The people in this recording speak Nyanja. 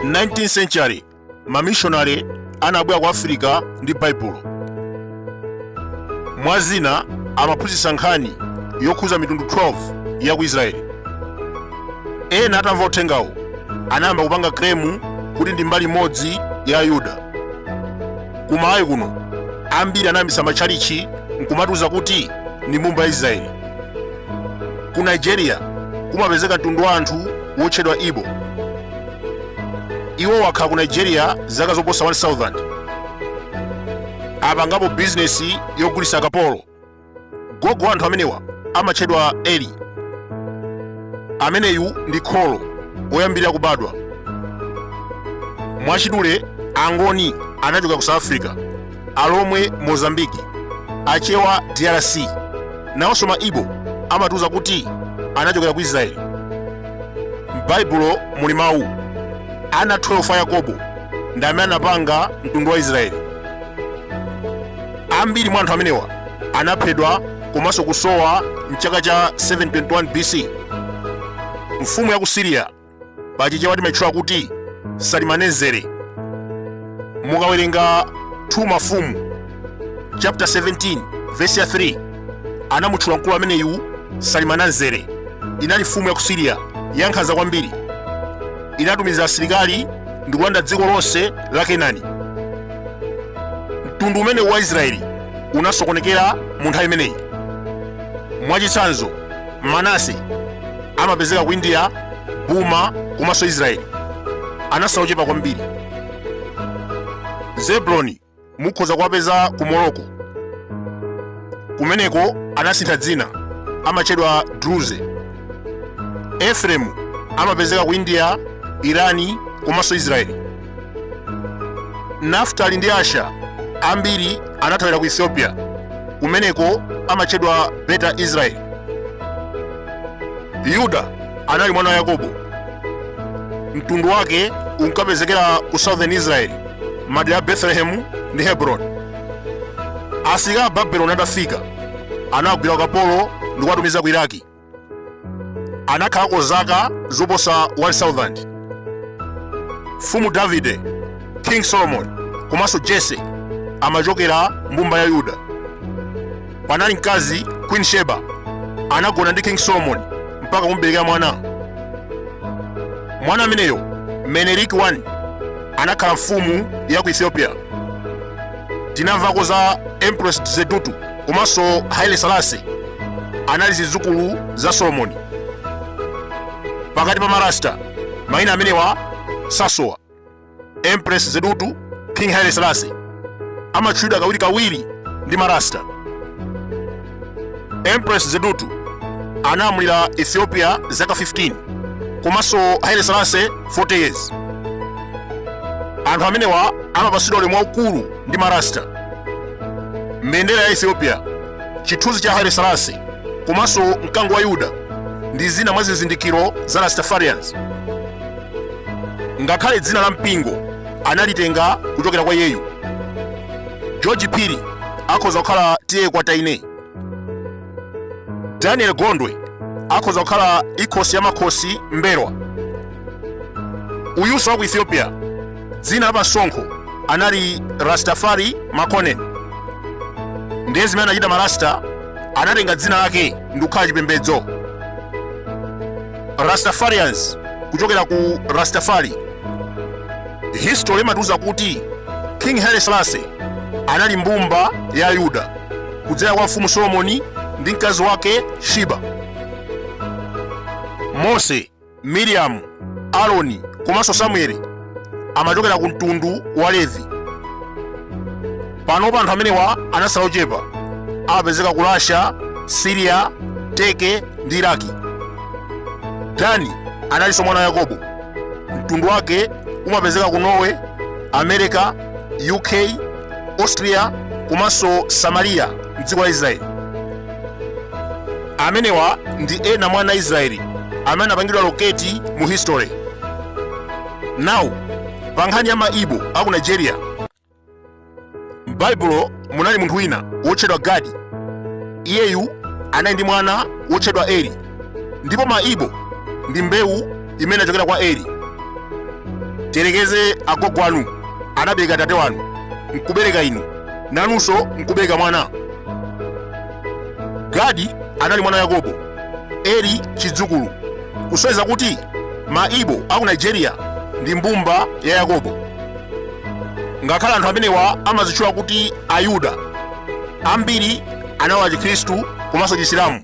19th century mamishonare anabwera ku afirika ndi baibulo mwa zina amaphunzitsa nkhani yokhuza mitundu 12 ya ku israeli ena atamva uthengawo anayamba kupanga kremu kuti ndi mbali imodzi ya ayuda ku malawi kuno ambiri anayambitsa matchalichi n'kumatiuza kuti ndi mbumba ya israeli ku nigeria kumapezeka mtundu wa anthu wotchedwa ibo iwo wakhala ku nigeria zaka zoposa 1000 apangapo bizinesi yogulitsa akapolo gogo wa anthu amenewa amatchedwa eri ameneyu ndi kholo loyambirira kubadwa mwachidule angoni anachokera ku south africa alomwe mozambiki achewa drc nawonso ma ibo amatiuza kuti anachokera ku israeli m'baibulo muli mawu ana 12 a yakobo ndi amene anapanga mtundu wa israeli ambiri mwa anthu amenewa anaphedwa komanso kusowa mchaka cha 721 bc mfumu ya ku siriya pachichewa timatchula kuti salimanezere mukawerenga 2 mafumu chapter 17 verse ya 3 anamutchula mkulu ameneyu salimanezere inali mfumu ya ku siriya yankhanza kwambiri inatumiza asilikali ndi kulanda dziko lonse la kenani mtundu umenewu wa israeli unasokonekera mu nthawi imeneyi mwachitsanzo manase amapezeka ku india burma komanso israeli anatsala ochepa kwambiri zebuloni mukhoza kuwapeza ku morocco kumeneko anasintha dzina amatchedwa druze efremu amapezeka ku india irani komanso israeli nafutali ndi asha ambiri anathawira ku ethiopia kumeneko amatchedwa beta israeli yuda anali mwana wa yakobo mtundu wake unkapezekera ku southern israeli madera a betelehemu ndi hebroni asilikali a babeloni atafika anaugwira ukapolo ndi kuwatumiza ku iraki anakhalako zaka zoposa 1000 mfumu davide king solomon komanso jese amachokera mbumba ya yuda panali mkazi queen sheba anagona ndi king solomon mpaka kumberekera mwana mwana ameneyo menelik 1 anakhala mfumu ya ku ethiopia tinamvako za empress zewditu komanso haile selassie anali zidzukulu za solomoni pakati pa marasta mayina amenewa sasowa empress zewditu king haile selassie amatchulidwa kawirikawiri ndi marasta empress zewditu analamulira ethiopia zaka 15 komanso haile selassie 40 years anthu amenewa amapatsidwa ulemu waukulu ndi marasta mbendera ya ethiopia chithunzi cha haile selassie komanso mkango wa yuda ndi zina mwa zizindikiro za rastafarians ngakhale dzina la mpingo analitenga kuchokera kwa iyeyu george phiri akhoza kukhala tiye kwa taine daniel gondwe akhoza kukhala inkosi ya makosi m'mbelwa uyunso wa ku ethiopia dzina la pasonkho anali rastafari makonnen ndiye zimene anachita marasta anatenga dzina lake ndikukhala chipembedzo Rastafarians kuchokera ku Rastafari. History imatiuza kuti King Haile Selassie anali mbumba ya Yuda kudzera kwa mfumu Solomoni ndi mkazi wake Shiba. Mose, Miriamu, Aroni komanso Samueli amachokera ku mtundu wa levi panopa anthu amenewa anatsala ochepa amapezeka ku russia siriya teke ndi iraki dani analinso mwana wa yakobo mtundu wake umapezeka ku norway america uk austria komanso samariya mdziko la israeli amenewa ndi ena mwa ana a israeli amene anapangidwa loketi mu history nawu pa nkhani ya maibo a ku nigeria m'baibulo munali munthu wina wotchedwa gadi iyeyu anali ndi mwana wotchedwa eri ndipo maibo ndi mbewu imene inachokera kwa eri tiyerekeze agogo anu anabereka tate wanu nkubereka inu nanunso nkubereka mwana gadi anali mwana wa yakobo eri chidzukulu kusonyeza kuti maibo a ku nigeria ndi mbumba ya yakobo ngakhale anthu amenewa amadzitchula kuti ayuda ambiri analowa chikhristu komanso chisilamu